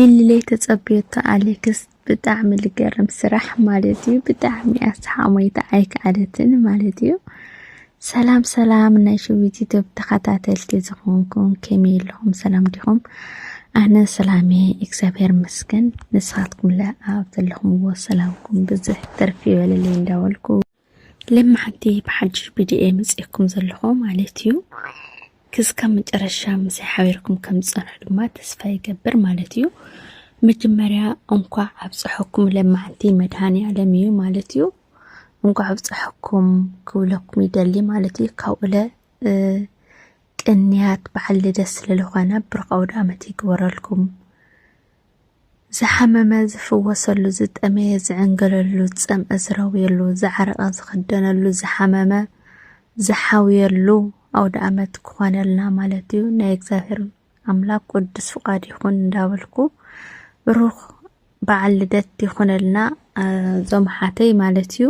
ኢሊለይ ተጸብዮቶ ኣሌክስ ብጣዕሚ ልገርም ስራሕ ማለት እዩ ብጣዕሚ ኣስሓሞይታ ኣይከኣለትን ማለት እዩ ሰላም ሰላም ናይ ሽዊት ኢትዮብ ተኸታተልቲ ዝኾንኩም ከመይ ኣለኹም ሰላም ዲኹም ኣነ ሰላሜ እግዚኣብሔር መስገን ንስኻትኩም ለኣብ ዘለኹምዎ ሰላምኩም ብዙሕ ትርፊ ይበለለይ እንዳበልኩ ለማሓንቲ ብሓድሽ ቢድዮ መጺኤኩም ዘለኹ ማለት እዩ ክስካብ መጨረሻ ምሳይ ሓቢርኩም ከም ዝጸንሑ ድማ ተስፋ ይገብር ማለት እዩ መጀመርያ እንኳዕ ኣብፀሐኩም ለማሓንቲ መድሃኒ ዓለም እዩ ማለት እዩ እንኳዕ ኣብፀሐኩም ክብለኩም ይደሊ ማለት እዩ ካብኡለ ቅንያት በዓል ልደት ስለዝኾነ ብሩኽ ኣውደ ዓመት ይግበረልኩም ዝሓመመ ዝፍወሰሉ ዝጠመየ ዝዕንገለሉ ዝጸምእ ዝረውየሉ ዝዓረቐ ዝኽደነሉ ዝሓመመ ዝሓውየሉ ኣውደኣመት ክኾነልና ማለት እዩ። ናይ እግዚኣብሔር ኣምላክ ቅዱስ ፍቃድ ይኹን እንዳበልኩ ብሩኽ በዓል ልደት ይኹነልና እዞም ሓተይ ማለት እዩ።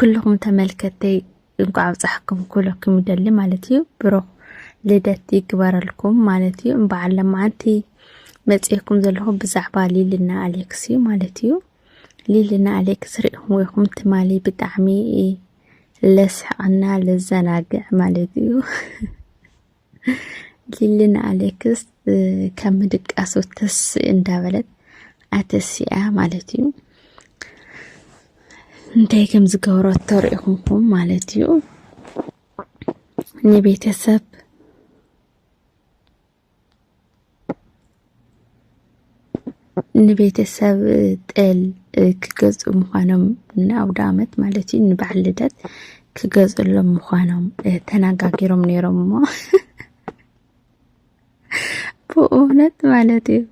ኩልኹም ተመልከተይ እንኳዕ ኣብፀሐኩም ክብለኩም ይደሊ ማለት እዩ ብሩኽ ልደት ይግበረልኩም ማለት እዩ እምበዓል ለማዓንቲ መፅኤኩም ዘለኹ ብዛዕባ ሊልና ኣሌክስ እዩ ማለት እዩ ሊልና ኣሌክስ ሪእኹም ወይኹም ትማሊ ብጣዕሚ ለስሕቐና ለዘናግዕ ማለት እዩ ሊልን ኣሌክስ ካብ ምድቃሱ ተስ እንዳበለት ኣተሲኣ ማለት እዩ እንታይ ከም ዝገብረቶ ርኢኹምኩም ማለት እዩ ንቤተሰብ ንቤተሰብ ጤል ክገዝኡ ምዃኖም ንኣውደ ዓመት ማለት እዩ ንበዓል ልደት ክገዝእሎም ምዃኖም ተነጋጊሮም ነይሮም እሞ ብእውነት ማለት እዩ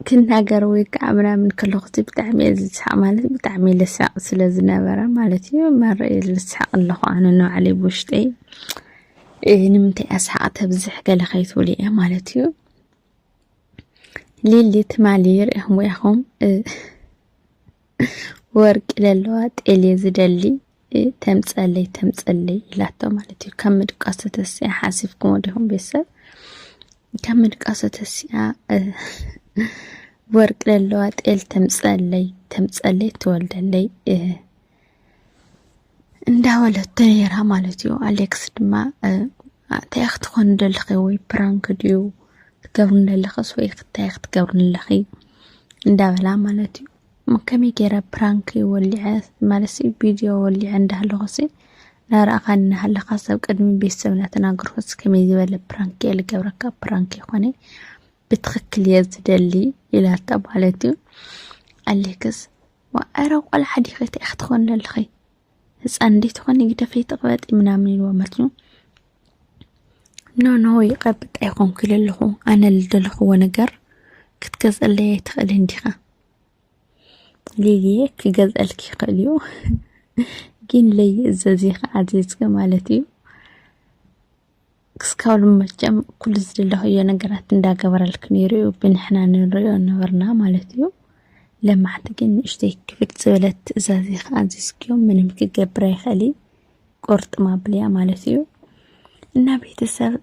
ክናገር ወይ ከዓ ምናምን ከለኹ እቲ ብጣዕሚ እየ ዝስሓቅ ማለት ብጣዕሚ ልሳቅ ስለ ዝነበረ ማለት እዩ መረ እየ ልስሓቅ ኣለኹ ኣነ ንባዕለይ ብውሽጠይ እ፣ ንምንታይ እያ ስሓቅ ተብዝሕ ገለ ከይትብሉ እየ ማለት እዩ ሊሊ ትማሊ ርእኹም ወያኹም እ፣ ወርቂ ለለዋ ጤል እየ ዝደሊ ተምፀለይ ተምፀለይ ኢላቶ ማለት እዩ። ካብ ምድቃሱ ተሲኣ ሓሲብኩሞ ዲኹም ቤተሰብ ካብ ምድቃሱ ተሲኣ ወርቂ ለለዋ ጤል ተምፀለይ ተምፀለይ ትወልደለይ እንዳበለቶ ነይራ ማለት እዩ። ኣሌክስ ድማ እንታይ ክትኾን ደለኺ ወይ ፕራንክ ድዩ ክትገብሪ ደለኽስ ወይ ክታይ ክትገብሪ ኣለኺ እንዳበላ ማለት እዩ። ከመይ ገይረ ፕራንክ ወሊዐ ማለት ቪድዮ ወሊዐ እንዳሃለኹሲ ናረኣኻ እናሃለኻ ሰብ ቅድሚ ቤተሰብ እናተናገርኩስ ከመይ ዝበለ ፕራንክ እየ ልገብረካ ፕራንክ ይኾነ ብትኽክል እየ ዝደሊ ይላታ ማለት እዩ። ኣሌክስ ዋእረ ቆልዓ ዲኺ እንታይ ክትኾኒ ኣለኺ ህፃን እንዴት ትኾኒ ግደፈይ ተቕበጢ ምናምን ኢልዎ ማለት እዩ ኖኖ ይቐብጥ ኣይኮንኩ ኢለ ኣለኹ ኣነ ልደለኽዎ ነገር ክትገዝአለይ ኣይትኽእልን ዲኻ ሊልየ ክገዝአልኪ ይኽእል እዩ ግን ለይእዘዝ ኢኻ ኣዚዝኪ ማለት እዩ ክስካብ ሎሚ መቸም ኩሉ ዝደለኽዮ ነገራት እንዳገበረልክ ነይሩ እዩ ብንሕና ንሪኦ ነበርና ማለት እዩ ለማዕቲ ግን ንእሽተይ ክብድ ዝበለት ትእዛዝ እየ ከዓ ኣዚዝክዮ ምንም ክገብር ኣይኽእል እዩ ቁርጥም ኣብልያ ማለት እዩ እና ቤተሰብ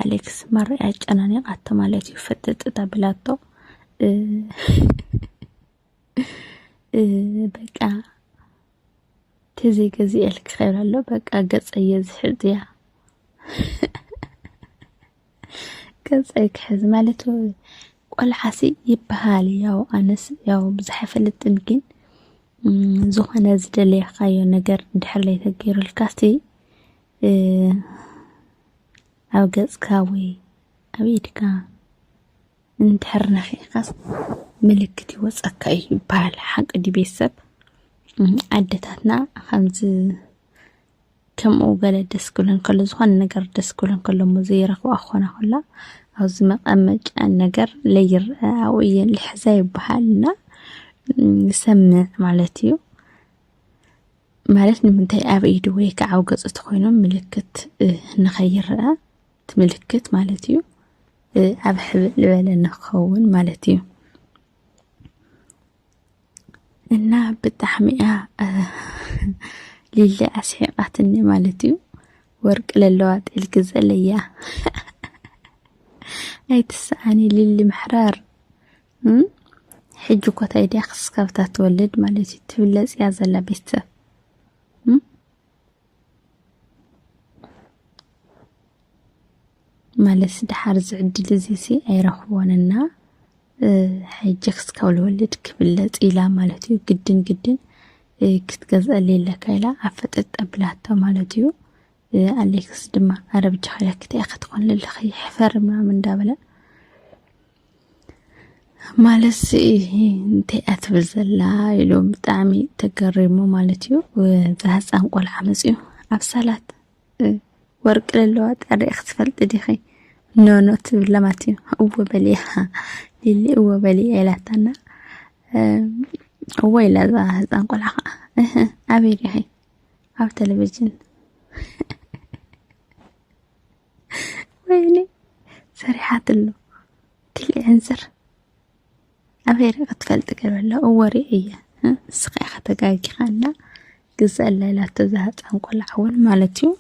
ኣሌክስ ማራ ኣጨናኒቃቶ ማለት እዩ ፈጥጥ ተብላቶ በቃ ግዜ ገዚኤልኪ ክብል ኣሎ በቃ ገጸየ ዝሕዝ እያ ገጸይ ክሕዝ ማለት ቆልዓሲ ይበሃል ያው ኣነስ ያው ብዙሕ ኣይፈልጥን ግን ዝኾነ ዝደለየካዮ ነገር እንድሕር ላይ ተገይሩልካሲ ኣብ ገጽካ ወይ ኣብ ኢድካ እንድሕር ነኺእካስ ምልክት ይወፀካ እዩ ይበሃል ሓቂ ድዩ ቤተሰብ ኣደታትና ከምዚ ከምኡ ገለ ደስ ክብለን ከሎ ዝኾነ ነገር ደስ ክብለን ከሎ እሞ ዘይረኽብኣ ክኾና ከላ ኣብዚ መቐመጫ ነገር ለይርአ ኣብኡ እየን ልሕዛ ይበሃልና ይሰምዕ ማለት እዩ ማለት ንምንታይ ኣብ ኢዱ ወይ ከዓ ኣብ ገፁ ተኮይኖም ምልክት ንኸይረአ ምልክት ማለት እዩ ኣብ ሕብእ ልበለ ንክኸውን ማለት እዩ እና ብጣዕሚ እያ ሊሊ ኣስሒቃትኒ ማለት እዩ ወርቂ ለለዋ ጤል ግዘለያ ኣይትስኣኒ ሊሊ ምሕራር ሕጂ ኮታ ኢድያ ክስካብታ ትወልድ ማለት እዩ ትብለጽ እያ ዘላ ቤተሰብ ማለትሲ ደሓር እዚ ዕድል እዚሲ ኣይረኽቦን እና ሕጂ ክስካብ ልወልድ ክብለጽ ኢላ ማለት እዩ ግድን ግድን ክትገዝአሊ ኣለካ ኢላ ኣፈጠጥ ኣቢላቶ ማለት እዩ ኣሌክስ ድማ ኣረብጃ ኸለክት ክትኾን ልልኺ ሕፈር ምናምን እንዳበለ ማለት እንታይ እያ ትብል ዘላ ኢሎም ብጣዕሚ ተገሪሙ ማለት እዩ እዛ ህፃን ቆልዓ መፅኡ ኣብ ሰላት ወርቂ ለለዋ ጣሪ ክትፈልጢ ዲኺ ኖኖ ትብላ ማለት እዩ እወ በልያ ሊሊ እወ በልያ ኢላታና እወ ኢላ እዛ ህፃን ቆልዓ ከዓ ኣበይ ዲኺ ኣብ ቴሌቭዥን ወይኔ ሰሪሓትሉ ክሊ ዕንዝር ኣበይ ሪእኻ ትፈልጢ ገበላ እወ ሪእ እየ ንስኻ ኢኻ ተጋጊኻ እና ግዘኣላ ኢላቶ እዛ ህፃን ቆልዓ እውን ማለት እዩ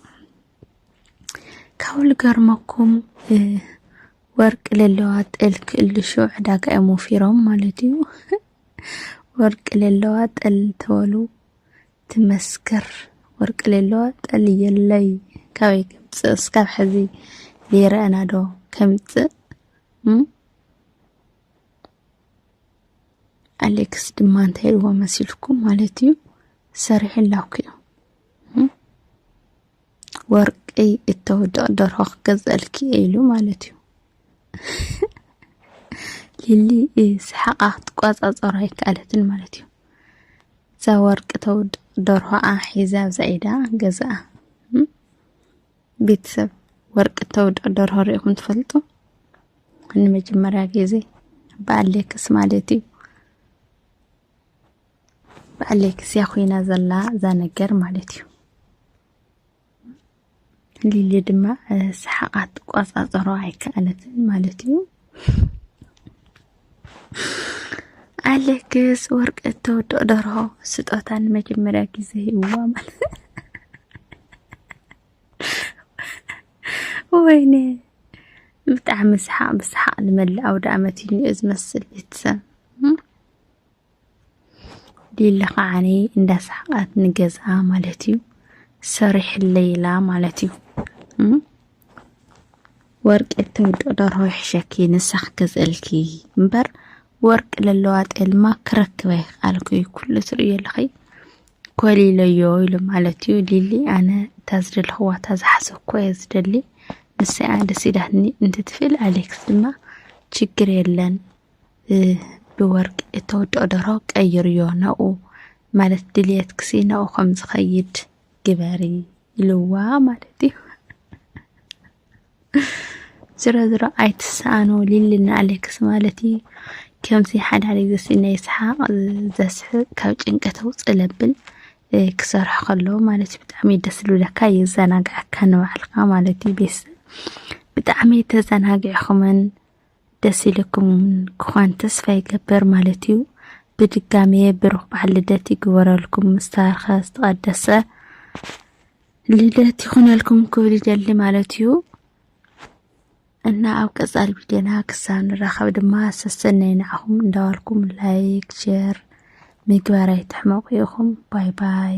ካብኡ ልገርመኩም ወርቂ ለለዋ ጠል ክእልሹ ዕዳጋ እዮም ወፊሮም ማለት እዩ ወርቂ ለለዋ ጠል ተበሉ ትመስክር ወርቂ ሌሎ ጠልየለይ ካበይ ከምፅእ እስካብ ሕዚ ዘይረኣና ዶ ከምፅእ ኣሌክስ ድማ እንታይ ኢልዎ መሲልኩም ማለት እዩ ሰሪሑ ላኩ እዩ ወርቂ እተውድቕ ደርሆ ክገዝኣልኪ እየ ኢሉ ማለት እዩ። ሊሊ ስሓቓ ክትቆፃፀሮ ኣይከኣለትን ማለት እዩ። እዛ ወርቂ ተውድቕ ደርሆኣ ሒዛ ኣብዛ ኢዳ ገዝኣ። ቤተሰብ ወርቂ ተውድቕ ደርሆ ሪኢኹም ትፈልጡ? ንመጀመርያ ግዜ ብኣሌክስ ማለት እዩ። ብኣሌክስያ ኮይና ዘላ እዛ ነገር ማለት እዩ። ሊሊ ድማ ሰሓቓት ትቆፃፀሮ ኣይከኣለትን ማለት እዩ። ኣሌክስ ወርቂ እተወድኦ ደርሆ ስጦታ ንመጀመርያ ግዜ ይዋ ማለት ወይኔ ብጣዕሚ ሰሓቕ ብሰሓቕ ንመላእ ኣውደ ዓመት እዩ ዝመስል ቤተሰብ ሊሊ ከዓኒ እንዳሰሓቃት ንገዝኣ ማለት እዩ ሰሪሕለይ ኢላ ማለት እዩ ወርቂ እተውድኦ ደርሆ ይሕሸኪ ንሳኽ ገዝእልኪ እምበር ወርቂ ለለዋ ጤልማ ክረክበ ይኽኣልኩ እዩ ኩሉ ትርእዮ ኣለኺ ኮሊለዮ ኢሉ ማለት እዩ ሊሊ ኣነ እታ ዝደለኽዋ እታ ዝሓሰብኩ እየ ዝደሊ ንሰኣ ደስ ኢላትኒ እንትትፍእል ኣሌክስ ድማ ችግር የለን ብወርቂ እተወድኦ ደርሆ ቀይርዮ ናብኡ ማለት ድልየትክሲ ናብኡ ከም ዝኸይድ ግበሪ ኢልዋ ማለት እዩ ዝሮ ዝሮ ኣይትሰኣኖ ሊልና ኣሌክስ ማለት እዩ ከምዚ ሓደ ሓደ ግዜ ስነ ይስሓቕ ዘስሕቕ ካብ ጭንቀት ውፅእ ለብል ክሰርሖ ከሎ ማለት እዩ ብጣዕሚ ደስ ዝብለካ የዘናግዐካ ንባዕልካ ማለት እዩ ቤተሰብ ብጣዕሚ ተዘናጊዕኹምን ደስ ኢሉኩም ክዃን ተስፋ ይገብር ማለት እዩ። ብድጋሜ ብሩኽ በዓል ልደት ይግበረልኩም ምስተባረኸ ዝተቐደሰ ልደት ይኹነልኩም ክብል ይደሊ ማለት እዩ እና ኣብ ቀጻል ቪድዮና ክሳብ ንራኸብ ድማ ሰሰናይ ንዓኹም እንዳበልኩም ላይክ ሼር ምግባር ኣይትሕመቑ ኢኹም ባይ ባይ